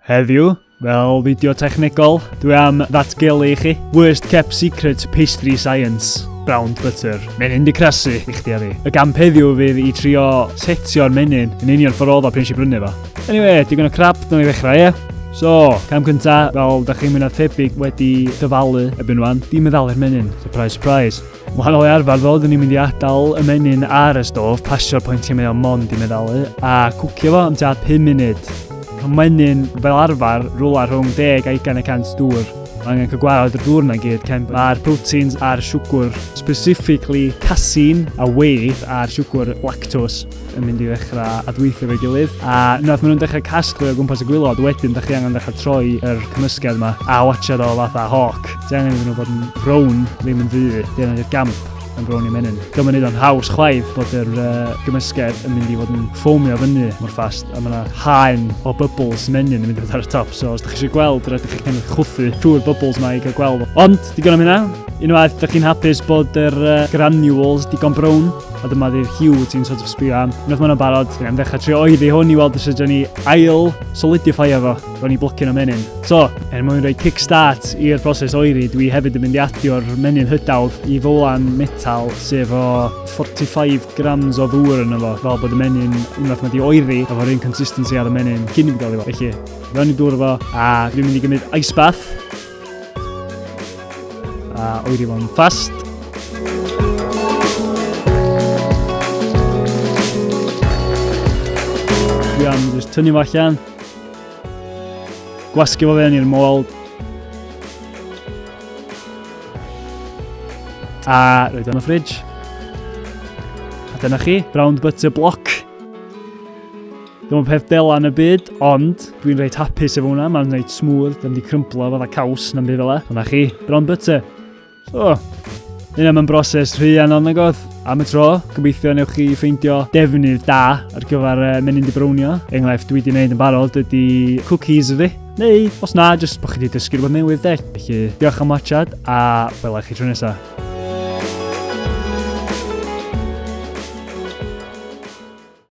Heddiw, fel fideo technegol, dwi am ddatgelu i chi Worst Kept Secret Pastry Science Brown Butter. Mae'n hyn di crasu i chdi a fi. Y gamp heddiw fydd i trio setio'r menyn yn union ffordd oedd o pryn si brynu fo. Anyway, digon o crap, dyna i ddechrau, ie? So, cam cynta, fel da chi'n mynd â thebyg wedi dyfalu ebyn wan, di meddalu'r menyn, surprise, surprise. Wahanol i arfer ddo, dyn ni'n mynd i adael y menyn ar y stof, pasio'r pwyntiau mae o'n mond i meddalu, a cwcio fo am tua 5 munud. Mae menyn fel arfer rwla rhwng 10 a 20 y cant dŵr. Mae angen cael gwared y dŵr yna gyd, cyn mae'r proteins a'r siwgr, specifically casin a wave a'r siwgr lactose, yn mynd i ddechrau adweithio efo'i gilydd. A unwaith maen nhw'n dechrau casglu o gwmpas y gwylod, wedyn dych chi angen dechrau troi yr cymysgedd yma a watchad o fatha hawk. Ti angen iddyn nhw bod yn frown, ddim yn ddu, di angen i'r gamp yn frown i menyn. Dwi'n mynd i ddo'n haws chwaith bod yr uh, gymysgedd yn mynd i fod yn ffomio fyny mor ffast a mae yna haen o bubbles menyn yn mynd i fod ar y top. So os da chi eisiau gweld, rhaid chi kind of chwthu trwy'r bubbles mae i gael gweld. Ond, digon am hynna, unwaith da chi'n hapus bod yr uh, granules digon brown, A dyma ddydd Hugh ti'n sort of sbio am. Unwaith ma'n barod, dyn am ddechrau trio oeddi hwn i weld os ydyn ni ail solidify efo. Ro'n i blocyn o menyn. So, er mwyn rhoi kickstart i'r broses oeddi, dwi hefyd yn mynd i adio'r menyn hydawdd i fowlan metal sef o 45 grams o ddŵr yn efo. Fel bod y menyn, unwaith mae di oeddi, efo'r un consistency ar y menyn cyn i fi gael efo. Felly, ro'n i dŵr efo, a dwi'n mynd i gymryd ice bath. A oeri fo'n ffast. Dwi am jyst tynnu fo allan. Gwasgu fo fewn i'r môl. A roed o'n y ffridge. A dyna chi, brown butter block. Ddim yn peth dela yn y byd, ond dwi'n reit hapus efo hwnna, mae'n reit smooth, ddim wedi crymplo fydda caws na'n byd fel e. Dyna chi, bron byty. So, hyn am yn broses rhy anodd na goth. Am y tro, gobeithio newch chi ffeindio defnydd da ar gyfer uh, menyn di brownio. Enghraifft dwi wedi gwneud yn barod ydy cookies fi. Neu, os na, jyst bod chi wedi dysgu rhywbeth newydd de. Felly, diolch am watchad a wela chi tro nesaf.